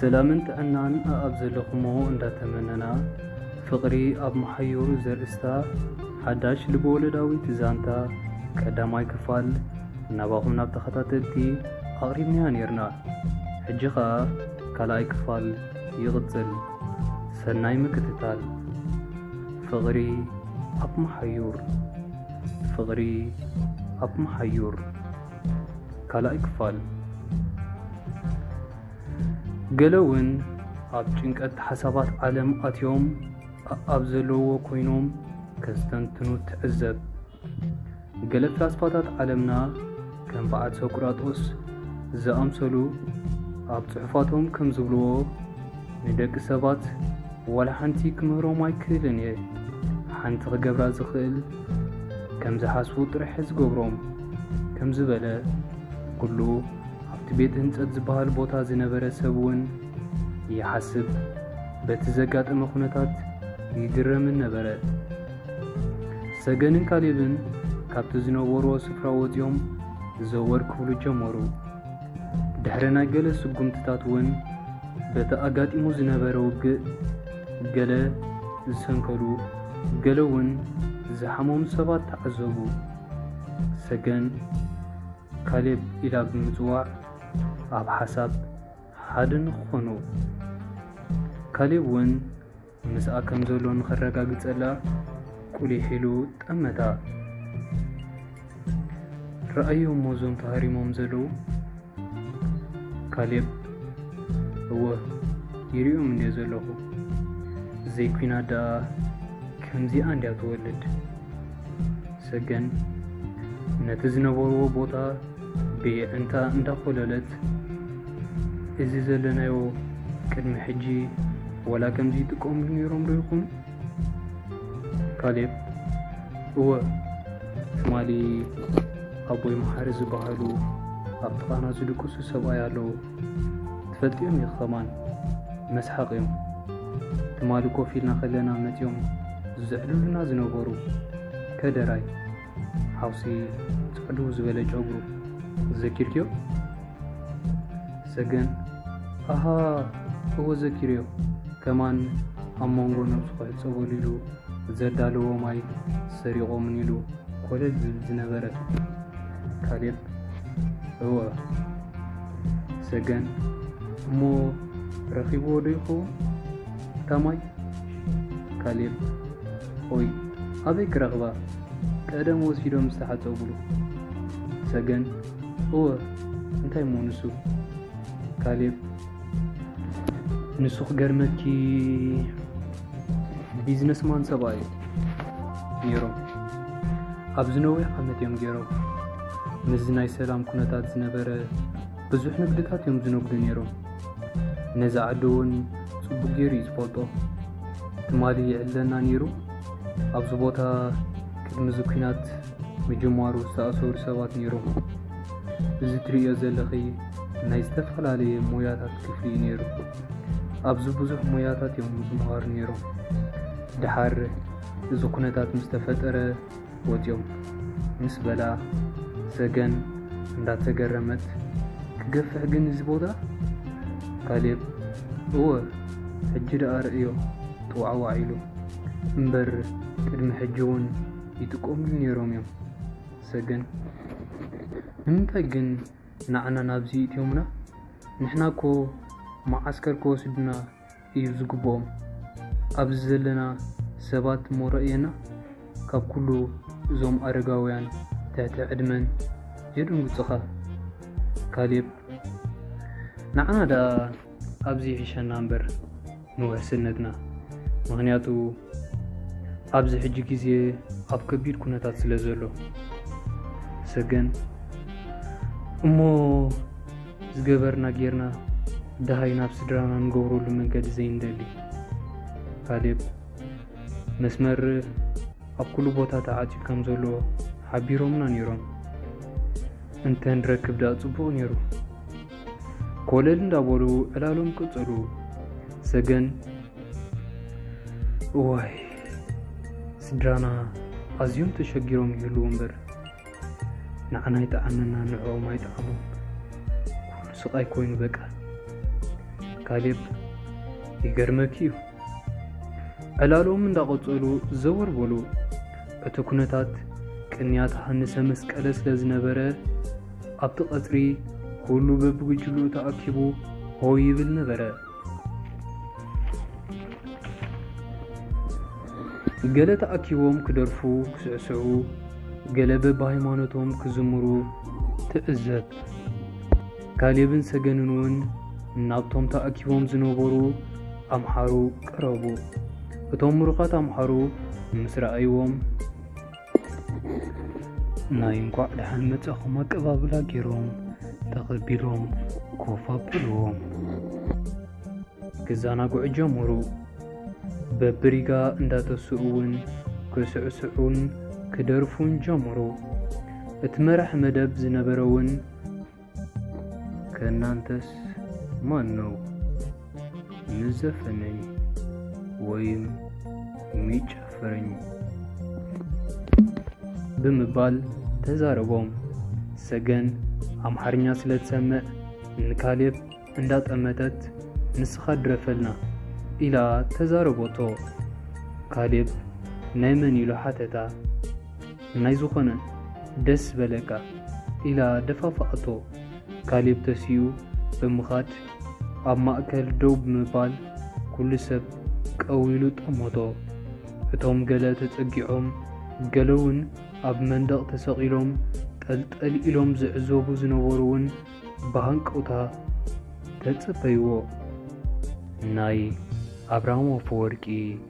ሰላምን ጥዕናን ኣኣብ ዘለኹሞ እንዳተመነና ፍቕሪ ኣብ መሓዩሩ ዘርእስታ ሓዳሽ ልበወለዳዊት ዛንታ ቀዳማይ ክፋል ናባኹም ናብ ተኸታተልቲ ኣቕሪብናያ ነርና። ሕጂ ኸኣ ካልኣይ ክፋል ይቕጽል። ሰናይ ምክትታል። ፍቕሪ ኣብ መሓዩር ፍቕሪ ኣብ መሓዩር ካልኣይ ክፋል ገለ እውን ኣብ ጭንቀት ሓሳባት ዓለም ኣትዮም ኣብ ዘለዎ ኮይኖም ከስተንትኑ ትዕዘብ። ገለ ፍላስፋታት ዓለምና ከም በዓል ሶቅራጦስ ዝኣምሰሉ ኣብ ጽሑፋቶም ከም ዝብልዎ ንደቂ ሰባት ዋላ ሓንቲ ክምህሮም ኣይክእልን እየ ሓንቲ ክገብራ ዝኽእል ከም ዝሓስቡ ጥራሕ ዝገብሮም ከም ዝበለ ኩሉ ኣብቲ ቤት ህንጸት ዝበሃል ቦታ ዝነበረ ሰብ እውን ይሓስብ በቲ ዘጋጠመ ኩነታት ይግረምን ነበረ። ሰገንን ካሌብን ካብቲ ዝነበርዎ ስፍራ ወፂኦም ዘወር ክብሉ ጀመሩ። ድሕሪ ናይ ገለ ስጉምትታት እውን በቲ ኣጋጢሙ ዝነበረ ውግእ ገለ ዝሰንከሉ ገለ እውን ዝሓመሙ ሰባት ተዓዘቡ። ሰገን ካሌብ ኢላ ብምፅዋዕ ኣብ ሓሳብ ሓደ ንክኾኑ ካሌብ እውን ምስኣ ከም ዘሎ ንኸረጋግጸላ ቁሊሕ ኢሉ ጠመታ። ረኣዮ እሞ እዞም ተሃሪሞም ዘለዉ ካሌብ እወ ይሪኦም እንድየ ዘለኹ ዘይኲናት ደኣ ከምዚኣ እንድያ ትወልድ ሰገን ነቲ ዝነበርዎ ቦታ ብየዕንታ እንዳኾለለት እዚ ዘለናዮ ቅድሚ ሕጂ ወላ ከምዚ ይጥቀምሉ ነይሮም ዶ ይኹን? ካሌብ እወ ትማሊ ኣቦይ መሓሪ ዝበሃሉ ኣብ ጥቓና ዝድቅሱ ሰብኣይ ኣለዉ ትፈልጥዮም ኢኺ ኸማን መስሓቕ እዮም ትማሊ ኮፍ ኢልና ከለና መፅዮም ዝዝዕልሉና ዝነበሩ ከደራይ ሓውሲ ፅዕዱ ዝበለ ጨጉሩ ዘኪርክዮ ሰገን ኣሃ እዎ ዘኪርዮ ከማን ኣብ መንጎ ነብሱ ክሕፀበሉ ኢሉ ዘዳለዎ ማይ ሰሪቖምን ኢሉ ኮለል ዝብል ዝነበረት ካሌብ እወ ሰገን እሞ ረኺብዎ ዶ ይኸውን እታ ማይ ካሌብ ኦይ ኣበይ ክረኽባ ቀደም ወሲዶም ዝተሓፀብሉ። ሰገን እወ እንታይ እሞ ንሱ። ካሌብ ንሱ ክገርመኪ ቢዝነስማን ሰብኣይ ነይሮም ኣብዚ ነዊሕ ዓመት እዮም ገይሮም ምስዚ ናይ ሰላም ኩነታት ዝነበረ ብዙሕ ንግድታት እዮም ዝነግዱ ነይሮም። ነዚ ዓዲ እውን ጽቡቕ ገይሩ እዩ ዝፈልጦ። ትማሊ ይዕለና ነይሩ ኣብዚ ቦታ ቅድሚ እዚ ኩናት ምጅማሩ ዝተኣሰሩ ሰባት ነይሮም። እዚ ትርእዮ ዘለኺ ናይ ዝተፈላለየ ሞያታት ክፍሊ እዩ ነይሩ። ኣብዚ ብዙሕ ሞያታት እዮም ዝመሃሩ ነይሮም። ደሓር እዚ ኩነታት ምስ ተፈጠረ ወጽዮም ምስ በላ ሰገን እንዳተገረመት ክገፍሕ ግን እዚ ቦታ ካሌብ እወ ሕጂ ደኣ ርእዮ ጥዋዕዋዕ ኢሉ እምበር ቅድሚ ሕጂ እውን ይጥቀምሉ ነይሮም እዮም ሰገን ንምንታይ ግን ንዓና ናብዚ እትዮምና ንሕና እኮ መዓስከር ክወስዱና እዩ ዝግብኦም ኣብዚ ዘለና ሰባት እሞ ረእየና ካብ ኩሉ እዞም ኣረጋውያን ትሕቲ ዕድመን የድንግጹኻ ካሌብ ንዓና ደኣ ኣብዚ ይሕሸና እምበር ንውሕስነትና ምክንያቱ ኣብዚ ሕጂ ግዜ ኣብ ከቢድ ኩነታት ስለ ዘሎ ሰገን እሞ ዝገበርና ጌርና ደሃይ ናብ ስድራና ንገብረሉ መንገዲ ዘይንደሊ። ካሌብ፣ መስመር ኣብ ኩሉ ቦታ ተዓጽዩ ከም ዘሎ ሓቢሮምና ነይሮም። እንተ ንረክብ ደኣ ጽቡቕ ነይሩ። ኮለል እንዳበሉ ዕላሎም ቀጸሉ። ሰገን፣ እዋይ ስድራና ኣዝዮም ተሸጊሮም ይህልዉ እምበር ንዓና ይጥዓመና ንዕኦም ኣይጥዓሞም ኩሉ ስቃይ ኮይኑ በቃ። ካሌብ ይገርመኪ እዩ። ዕላሎም እንዳቐጸሉ ዘወር በሉ። እቲ ኩነታት ቅንያት ሃንሰ መስቀለ ስለ ዝነበረ ኣብቲ ቀጽሪ ኩሉ በብጉጅልኡ ተኣኪቡ ሆይ ይብል ነበረ። ገለ ተኣኪቦም ክደርፉ ክስዕስዑ፣ ገለ በብሃይማኖቶም ክዝምሩ ትዕዘብ። ካሌብን ሰገንን እውን ናብቶም ተኣኪቦም ዝነበሩ ኣምሓሩ ቀረቡ። እቶም ምሩኻት ኣምሓሩ ምስ ረኣይዎም ናይ እንኳዕ ደሓን መጻኹም ኣቀባብላ ገይሮም ተቐቢሎም ኮፍ ኣብልዎም ክዘናግዑ ጀመሩ። በብሪጋ እንዳተስኡ እውን ክስዕስዑን ክደርፉን ጀመሩ። እቲ መራሕ መደብ ዝነበረ እውን ከእናንተስ ማን ነው ምስ ዘፈነኝ ወይም ሚጨፍረኝ ብምባል ተዛረቦም። ሰገን ኣምሓርኛ ስለ ትሰምዕ ንካሌብ እንዳጠመተት ንስኻ ድረፈልና ኢላ ተዛረቦቶ። ካሌብ ናይ መን ኢሉ ሓተታ። ናይ ዝኾነ ደስ በለካ ኢላ ደፋፍኣቶ። ካሌብ ተሲኡ ብምኻድ ኣብ ማእከል ደው ብምባል ኩሉ ሰብ ቀው ኢሉ ጠመቶ። እቶም ገለ ተጸጊዖም ገለ'ውን ኣብ መንደቕ ተሰቒሎም ጠልጠል ኢሎም ዝዕዘቡ ዝነበሩ'ውን ብሃንቀውታ ተጸበይዎ። ናይ ኣብርሃም ኣፈወርቂ።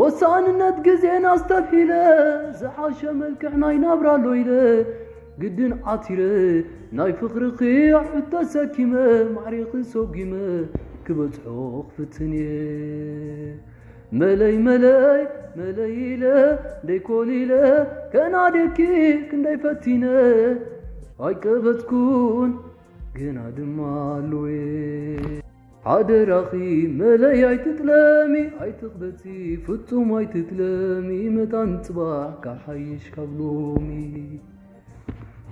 ወሳንነት ግዜን ኣስተብሒለ ዝሓሸ መልክዕ ናይ ናብራ ኣሎ ኢለ ግድን ዓቲረ ናይ ፍቕርኺ ኣዕብት ተሰኪመ ማዕሪኺ ሰጒመ ክበጽሖ ክፍትን እየ መለይ መለይ መለይ ኢለ ደይኮሊለ ከናድየኪ ክንደይ ፈቲነ ኣይቀበጽኩን ግና ድማ ኣሎየ ሓደራኺ መለይ ኣይትጥለሚ ኣይትቕበጺ ፍጹም ኣይትጥለሚ መታን ጽባሕ ካሓይሽ ካብ ሎሚ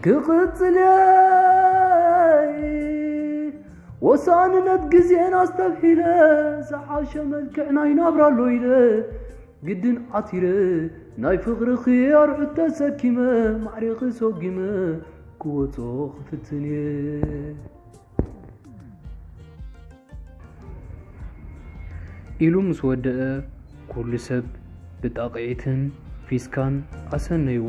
ክቕጽልየይ ወሳንነት ግዜን ኣስተብሒለ ዝሓሸ መልክዕ ናይ ናብራ ኣሎ ኢለ ግድን ዓቲረ ናይ ፍቕርኺ ኣርዑት ተሰኪመ ማዕሪኺ ሰጒመ ክወጾ ክፍትን እየ ኢሉ ምስ ወደኣ ኩሉ ሰብ ብጣቕዒትን ፊስካን ኣሰነይዎ።